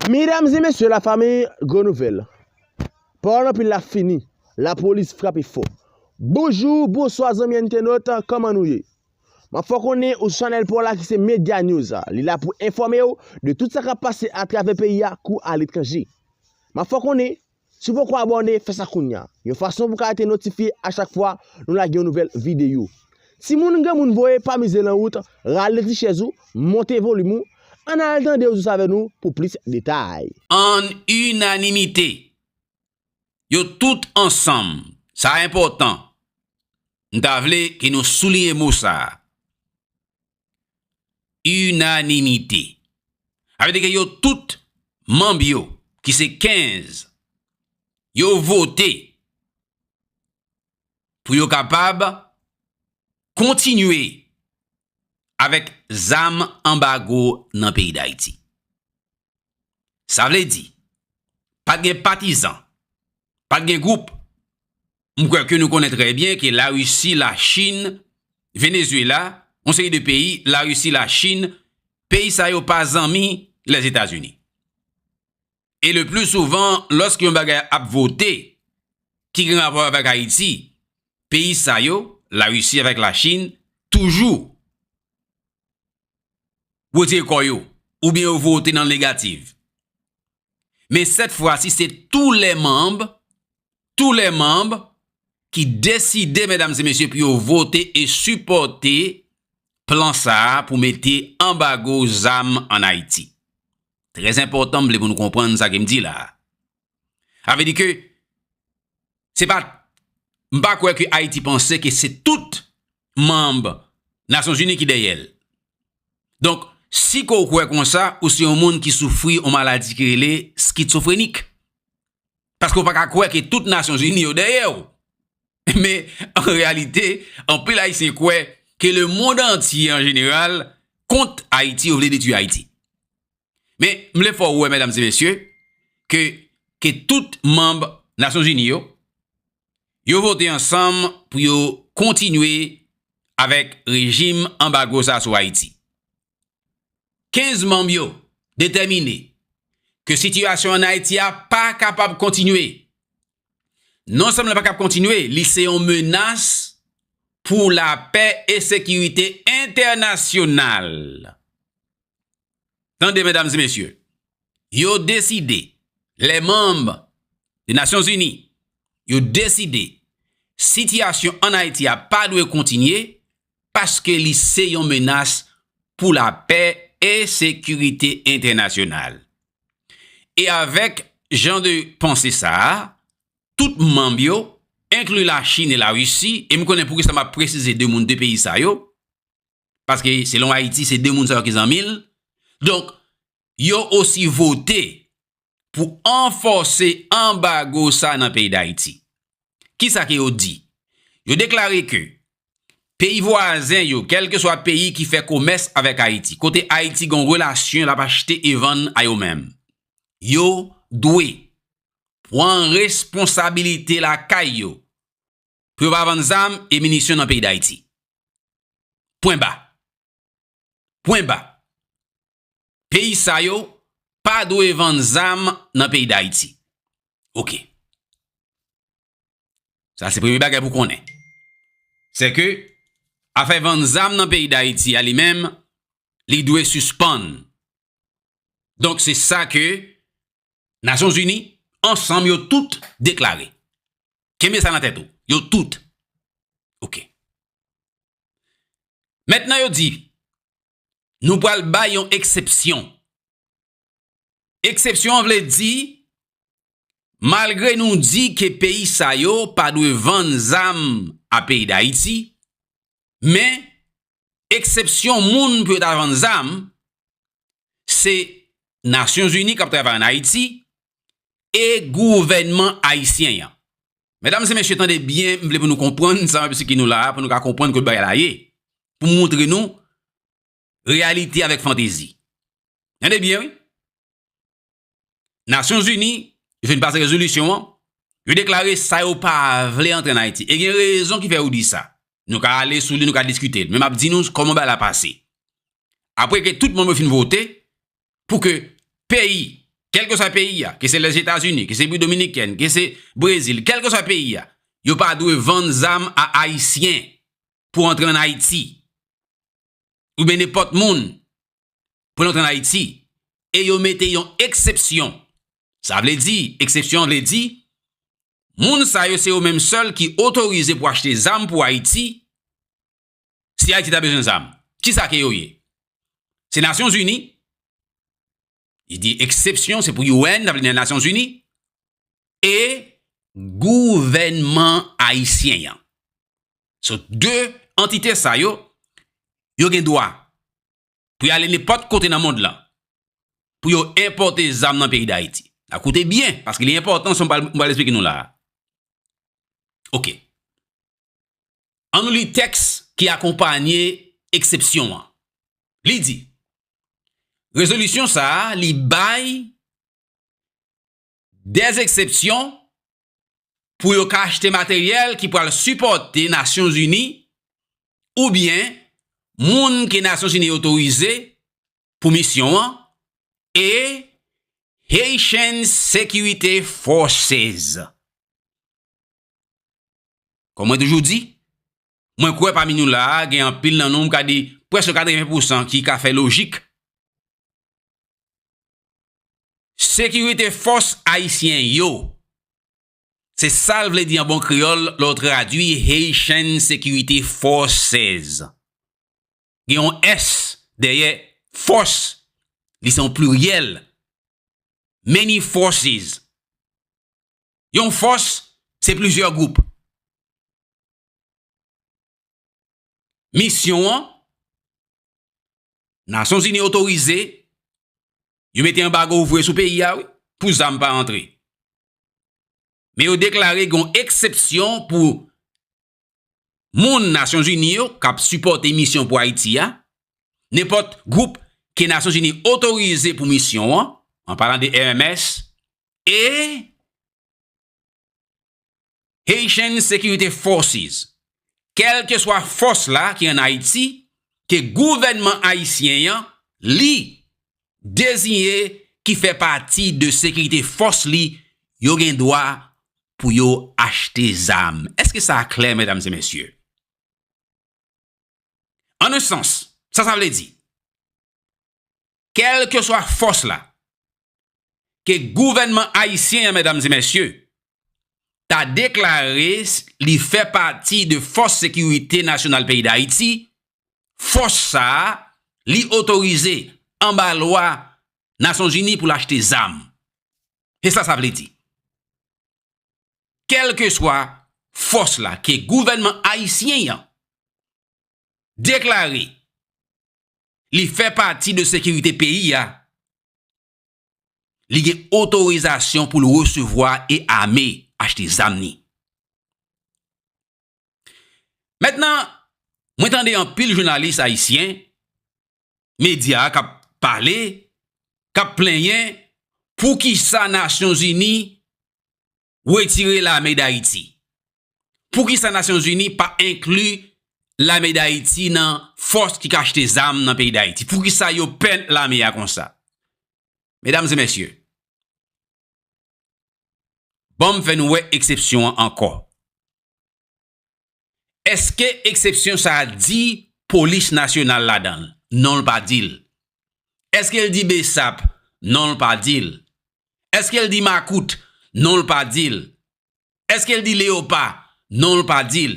Medam e mesye la fami gwo nouvel Paul anpil la fini la polis frape fò Bonjou bonswa zanmi entenot koman nou ye Map fè w konnen ou sou chanèl paw la ki se media news li la pou enfòme w de tout sa kap pase atravè peyi a kou aletranje Map fè w konnen Si w poko abòne, fè sa kounya. Yon fason pou w ka rete notifye a chak fwa nou lage yon nouvèl videyo. Timoun granmoun voye pa mize lan wout, rale ti chèz ou, monte volim ou, ann al tande Ouzous avè nou pou plis detay. Ann inanimite, yo tout ansanm, sa enpòtan, m ta vle ke nou souliye mo sa a, Inanimite. Sa vle di ke yo tout manb yo ki se 15 yo vote pou yo kapab kontinye avèk zam anbago nan peyi Dayiti. Sa vle di, pa t gen patizan, pa t gen gwoup. M kwè ke nou konnen trè byen ke Larisi, Lachin, Venezyela, yon seri de peyi, Larisi, Lachin, peyi sa yo pa zanmi Lèzetazini. E le pli souvan, lòske yon bagay ap vote ki gen rapò avèk Ayiti, peyi sa yo, Larisi avèk Lachin, toujou wetire kò yo oubyen yo vote nan negativ. Men sèt fwa si se tou lè manb, tou lè manb ki deside medam se mesye pou yo vote e sipòte plan sa a pou mete anbago zam an Ayiti. Trè enpòtan m vle pou nou konprann sa ke m di la a. Sa vle di ke se pa, m pa kwè ke Ayiti panse ke se tout manb nasyon zini ki dèyèl donk si ke ou kwè konsa ou se yon moun ki soufri yon maladi ki rele skitsofrenik paske ou pa ka kwè ke tout nasyon zini yo dèyèw me an reyalite anpil ayisyen kwè ke le mond antye an jeneral kont ayiti yo vle detwi ayiti. Men, m vle fè w wè, medam e mesye, ke, ke tout manb Nasyon Zini yo, yo vote ansanm pou yo kontinye avèk rejim anbago sa sou Ayiti. 15 manb yo detèmine ke sitiyasyon an Ayiti a pa kapab kontinye. Non sèlman li pa kab kontinye, li se yon menas pou lapè e sekirite entènasyonal. Tande medam e mesye, yo deside, lè manm de Nasyon Zini, yo deside sitiyasyon an Ayiti a pa dwe kontinye paske li se yon menas pou lapè e sekirite entènasyonal. E avèk jan de panse sa a, tout manm yo, enkli Lachin e Larisi, e m konnen poukisa m ap presize de moun de peyi sa yo, paske selon Ayiti se 2 moun sa yo ki zanmi l, donk yo osi vote pou anfòse anbago sa nan peyi Dayiti. Kisa ke yo di? Yo deklare ke peyi vwazen yo, kèlkeswa peyi ki fè komès avèk Ayiti, kote Ayiti gen yon relasyon l ap achte e vann a yo menm, yo dwe pwan responsabilite lakay yo pou yo pa vann zam e minisyon nan peyi Dayiti. Pwen ba. Pwen ba. Peyi sa yo pa dwe vann zam nan peyi Dayiti. Ok. Sa se premye bagay pou konnen. Se ke afè vann zam nan peyi Dayiti a li menm li dwe sispann Donk se sa ke Nasyon Zini ansanm yo tout deklare. Kenbe sa nan tèt ou. Yo tout. Ok. Mètnan yo di, nou pral bay yon eksepsyon. Eksepsyon an vle di, malgre nou di ke peyi sa yo pa dwe vann zam a peyi Dayiti, Men, eksepsyon moun pou yo ta vann zam, se Nasyon Zini k ap travay an Ayiti e gouvènman ayisyen an. Medam e mesye, tande byen, m vle pou nou konprann sa m ap esplike nou la a pou nou ka konprann kot bagay la ye, pou m montre nou Reyalite avèk fantezi. Tande byen wi. Nasyon Zini vin pase rezolisyon an, yo deklare sa yo pa vle antre an Ayiti. E gen rezon ki fè yo di sa. Nou ka ale sou li, nou ka diskite l. Men m ap di nou kòman bagay la pase. Apre ke tout moun yo fin vote pou ke peyi, kèlke swa peyi a, ke se Lèzetazini, ke se Repiblik Dominikèn, ke se Brezil, kèlke swa peyi a, yo pa dwe vann zam a Ayisyen pou antre an Ayiti. oubyen nenpòt moun pou l antre an Ayiti e yo mete yon eksepsyon, sa vle di, eksepsyon an vle di, moun sa yo se yo menm sèl ki otorize pou achte zam pou Ayiti, si Ayiti ta bezwen zam. Kisa ke yo ye? Se Nasyonzini? Li di eksepsyon se pou UN, sa vle di nan Nasyon Zini, e gouvènman ayisyen an. So 2 antite sa yo, yo gen dwa pou y ale nenpòt kote nan mond lan, pou yo enpòte zam nan peyi Dayiti. A koute byen, paske li enpòtan sa m pral esplike nou la a. Ok. An nou li tèks ki akonpanye eksepsyon an. Li di, Rezolisyon sa a li bay de eksepsyon pou yo ka achte materyèl ki pral sipòte Nasyonzini oubyen moun ke Nasyonzini otorize pou misyon an e Haitian Security Forces. Kòm mwen toujou di, mwen kwè pami nou la a gen anpil nan nou m ka di prèske 80 pou san ki ka fè lojik. Sekirite fòs ayisyen yo. Se sa l vle di an bon kreyòl lè w tradui Haitian Security Forces. Gen yon s dèyè fòs, li se yon pliryèl, many forces. Yon fòs se plizyè gwoup. Misyon an, Nasyon Zini otorize, yo mete anbago vre sou peyi a wi, pou zam pa antre. Men yo deklare gen yon eksepsyon pou moun Nasyonzini yo k ap sipòte misyon pou Ayiti a, nenpòt gwoup ke Nasyonzini otorize pou misyon an, an palan de EMS, e Haitian Security Forces, kèlkeswa fòs la ki an Ayiti, ke gouvènman ayisyen an, li, deziye ki fè pati de sekirite fòs li yo gen dwa pou yo achte zam. Eske sa a klè, medam e mesye? An un sans, sa sa vle di? Kèlkeswa fòs la ke gouvènman ayisyen an, medam e mesye, ta deklare li fè pati de fòs sekirite nasyonal peyi Dayiti, fòs sa a li otorize anba lwa Nasyonzini pou l achte zam. Se sa sa vle di. Kèlkeswa fòs la ke gouvènman ayisyen an deklare li fè pati de sekirite peyi a, li gen otorizasyon pou l resevwa e ame, achte zam ni. Mètnan, mwen tande anpil jounalis ayisyen, medya k ap pale, k ap plenyen, poukisa Nasyonzini retire lame Dayiti? Poukisa Nasyonzini pa enkli lame Dayiti nan fòs ki k achte zam nan peyi Dayiti? Poukisa yo pè lame a konsa? Medam e mesye, banm fè nou wè eksepsyon an ankò. Eske eksepsyon sa a di Polis Nasyonal ladan l? Non l pa di l. Eske l di bsap? Non l pa di l. Eske l di makout? Non l pa di l. Eske l di leyopa? Non l pa di l.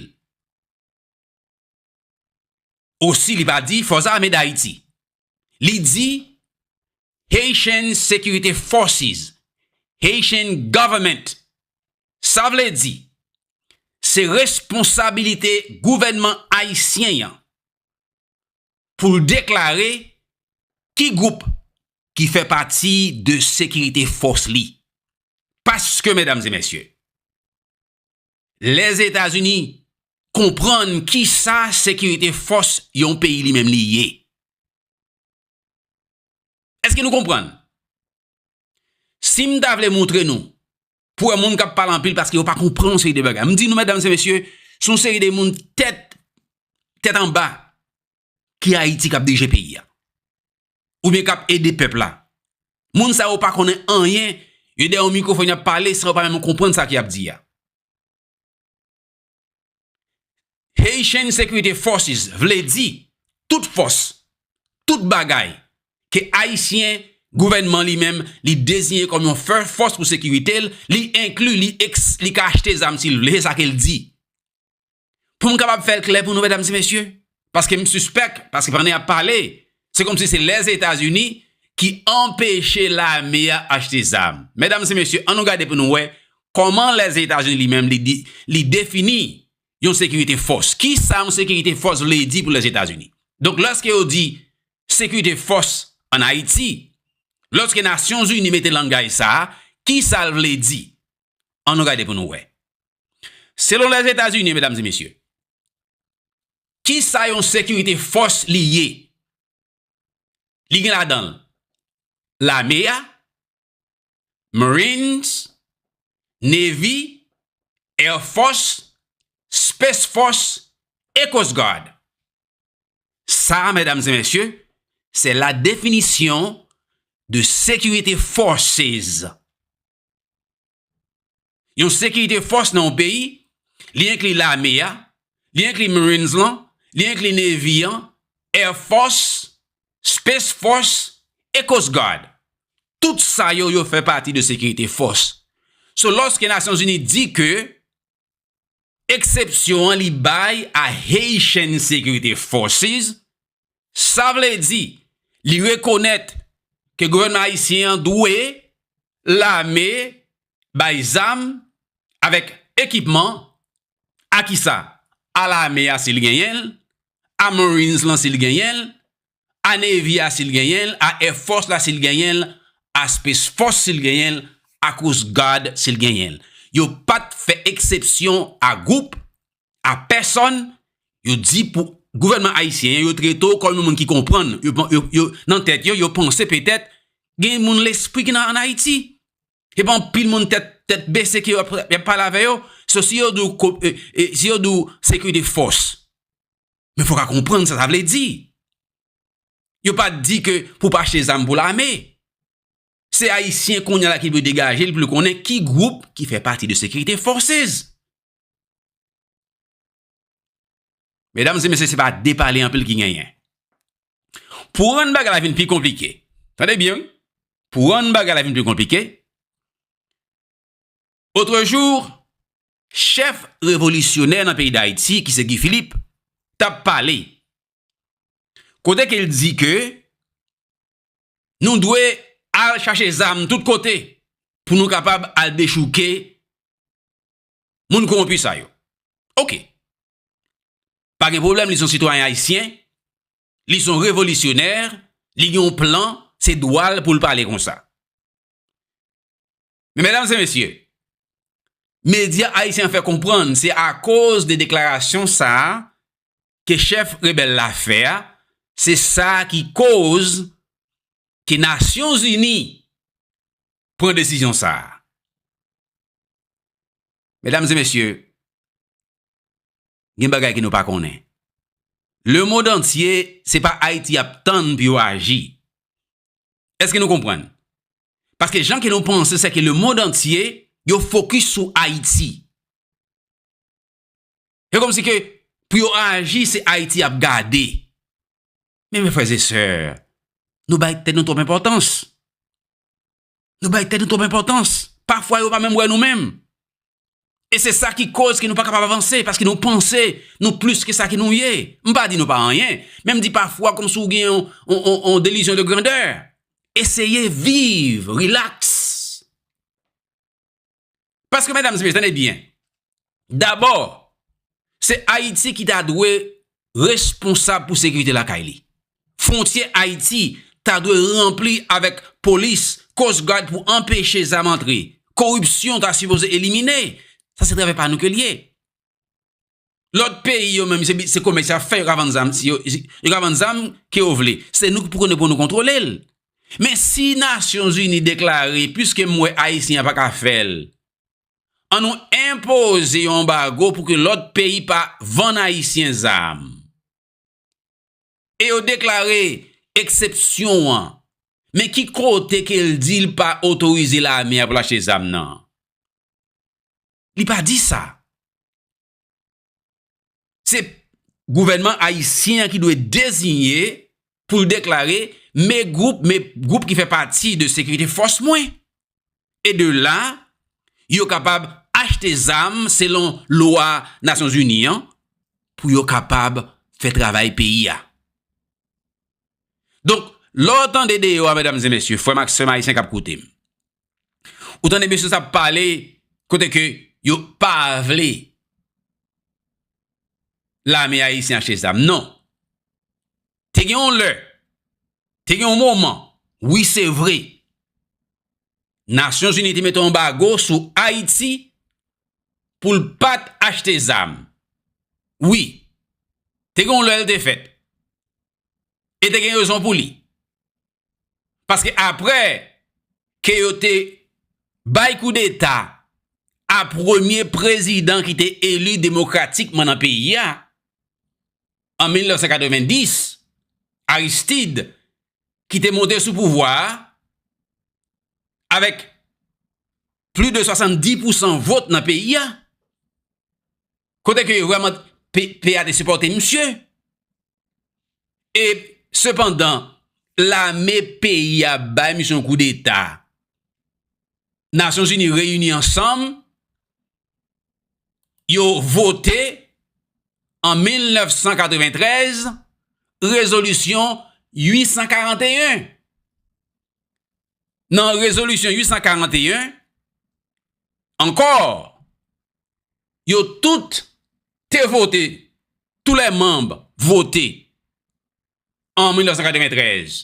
Osi li pa di Fòs Ame Dayiti. Li di Haitian Security Forces, Haitian Government. Sa vle di, se responsabilite gouvènman ayisyen an pou l deklare ki gwoup ki fè pati de sekirite fòs li. Paske, medam e mesye, Lèzetazini konprann ki sa sekirite fòs yon peyi li menm li ye. Èske nou konprann? Si m ta vle montre nou, pou wè moun k ap pale anpil paske yo pa konprann yon seri de bagay. M di nou, medam se mesye, se yon seri de moun tèt, tèt anba. ki Ayiti kap dirije peyi ya. Ou byen kap ede pèp la. Moun sa yo pa konnen anyen, yo dè yon mikrofon yap pale san yo pa menm konprann sa ki ap di ya. Haitian Security Forces vle di tout fòs, tout bagay ke Ayisyen, gouvènman li menm, li deziyen kòm yon fòs pou sekirite l, li enkli, li ka achte zam si l vle, se sa ke l di. Pou m kapab fè l klè pou nou medam e mesye, paske m sispèk, paske pandan y ap pale, se kòmsi se Lèzetazini ki anpeche lame a achte zam. Medam e mesye, an nou gade pou nou wè, kòman Lèzetazini li menm li defini yon sekirite fòs. Ki sa yon sekirite fòs vle di pou Lèzetazini? Donk lòske yo di sekirite fòs an Ayiti, lòske Nasyonzini mete langaj sa a, ki sa l vle di? An nou gade pou nou wè. Selon Lèzetazini, medam e mesye, ki sa yon sekirite fòs li ye? Li gen ladan l, lame a, Marines, Navy, Air Force, Space Force e Coast Guard. Sa a, medam e mesye, se la definisyon de sekirite forces. Yon sekirite fòs nan yon peyi, li enkli lame a, li enkli Marines lan, li enkli Navy an, Air Force, Space Force, e Coast Guard. Tout sa yo, yo fè pati de sekirite fòs. So lòske Nasyonzini di ke Eksepsyon an li bay a Haitian Security Forces, sa vle di li rekonèt ke gouvènman ayisyen an dwe lame bay zam avèk ekipman a kisa? A lame a si l genyen l, a marines lan si l genyen l, a Navy a si l genyen l, a Air Force la si l genyen l, a Space Force si l genyen l, a Coast Guard si l genyen l. Yo pa t fè eksepsyon a gwoup, a pèsòn, yo di pou gouvènman ayisyen an, yo trete w kòm yon moun ki konprann, yo nan tèt yo, yo panse petèt gen moun lespri ki nan ann Ayiti. Se pa anpil moun tèt bese ke y ap pale avè yo, so si yo di w sekirite fòs, Men fok a konprann sa sa vle di. Yo pa di ke pou pa achte zam pou lame. Se ayisyen konya la ki dwe degaje li pou li konnen ki gwoup ki fè pati de sekirite fòsez. Medam se mesye se pa de pale anpil ki genyen. Pou rann bagay la vin pi konplike. Tande byen wi. Pou rann bagay la vin pi konplike. Autre jour, chèf revolisyonè nan peyi Dayiti ki se Guy Philippe t ap pale, kote ke l di ke nou dwe al chache zam tout kote pou nou kapab al dechouke moun kowonpi sa yo. Ok, pa gen pwoblèm li se yon sitwayen ayisyen, li se yon revolisyonè, li gen yon plan, se dwa l pou l pale konsa. Men medam se mesye, medya ayisyen an fè konprann se akoz de deklarasyon sa a ke chèf rebèl la fè a, se sa ki koz ke Nasyon Zini pran desizyon sa a. Medam se mesye, gen bagay ke nou pa konnen. Lemond antye, se pa Ayiti y ap tann pou yo aji. Eske nou konprann? Paske jan ke nou panse se ke le mond antye yo fokis sou Ayiti. Se kom si ke pou yo aji se Ayiti y ap gade. Men me freze sè, nou bay tèt nou twop enpotans. Nou bay tèt nou twop enpotans. Pafwa yo pa menm wè nou menm. E se sa ki koz ke nou pa kapab avanse, paske nou panse nou plis ke sa ke nou ye. M pa di nou pa anyen, men m di pafwa kòm si w gen yon delizyon de grandè. Eseye viv, rilaks. Paske medam e mesye, tande byen, dabò, se Ayiti ki ta dwe responsab pou sekirite lakay li. Fwontyè Ayiti ta dwe ranpli avèk polis, coast guard pou anpeche zam antre. Koripsyon ta sipoze elimine. Sa se travay pa nou ke l ye. Lòt peyi yo menm se komès y ap fè, yo ka vann zam, yo ka vann zam ke yo vle. Se nou ki pou konnen pou nou kontwole l. Men si Nasyonzini deklare piske m wè Ayisyen an pa ka fè l. an nou enpoze yon anbago pou ke lòt peyi pa vann Ayisyen zam. E yo deklare eksepsyon an, men ki kote ke l di l pa otorize lame a pou l achte zam nan? Li pa di sa. Se gouvènman ayisyen an ki dwe deziye pou l deklare me gwoup, me gwoup ki fè pati de sekirite fòs mwen. E de la, yo kapab achte zam selon lwa Nasyonzini an pou yo kapab fè travay peyi a. Donk, lè w tande deyò a, medam e mesye, frè m ak sè m ayisyen k ap koute m, Ou tande mesye sa ap pale kote ke yo pa vle lame ayisyen achte zam. Non. Te gen yon lè, te gen yon moman, wi se vre, Nasyon Zini te mete yon bago sou Ayiti pou l pat achte zam. Wi. Te gen yon lè l te fèt. E te gen rezon pou li. Paske apre ke yo te bay koudeta a premye prezidan ki te eli demokratikman nan peyi a, an 1990, Aristide, ki te monte sou pouvwa a, avèk pli de 70 pousan vot nan peyi a, Kote ke yo vreman peyi a te sipote misye. E sepandan lame peyi a bay misye yon kou deta. Nasyon zini reyini ansanm. Yo vote an 1993 rezolisyon 841. nan rezolisyon 841, ankò, yo tout te vote, tou lè manb vote, an 1993,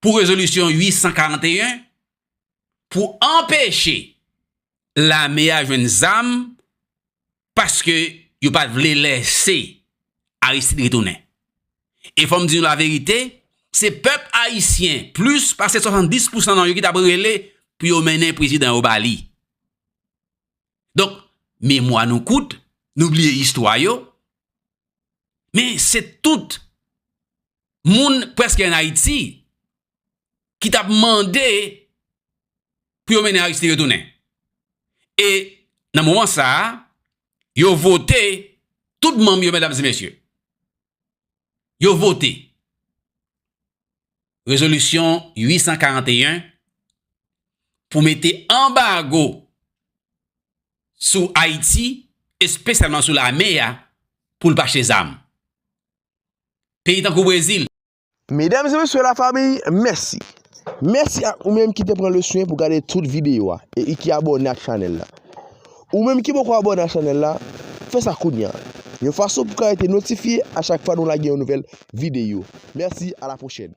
pou rezolisyon 841, pou anpeche lame a jwenn zam, Paske yo pa t vle lèse Aristide retounen. E fò m di nou laverite, se pèp ayisyen plis pase 70 pousan nan yo ki t ap rele pou yo mennen prezidan yo ba li. Donk, memwa nou kout, nou bliye istwa yo. Men, se tout moun prèske an Ayiti ki t ap mande pou yo mennen Aristide retounen. E nan moman sa a, yo vote tout manm yo medam e mesye. Yo vote rezolisyon 841 pou mete anbago sou Ayiti espesyalman sou lame a pou l pa achte zam. Peyi tankou Brezil. Medam e mesye la famiy mèsi. Mèsi ak ou menm ki te pran le swen pou gade tout videyo a e ki abòne ak chanèl la. Ou menm ki poko abòne ak chanèl la, fè sa kounya. Yon fason pou ka rete notifye a chak fwa nou lage yon nouvèl videyo. Mèsi a la pwochèn.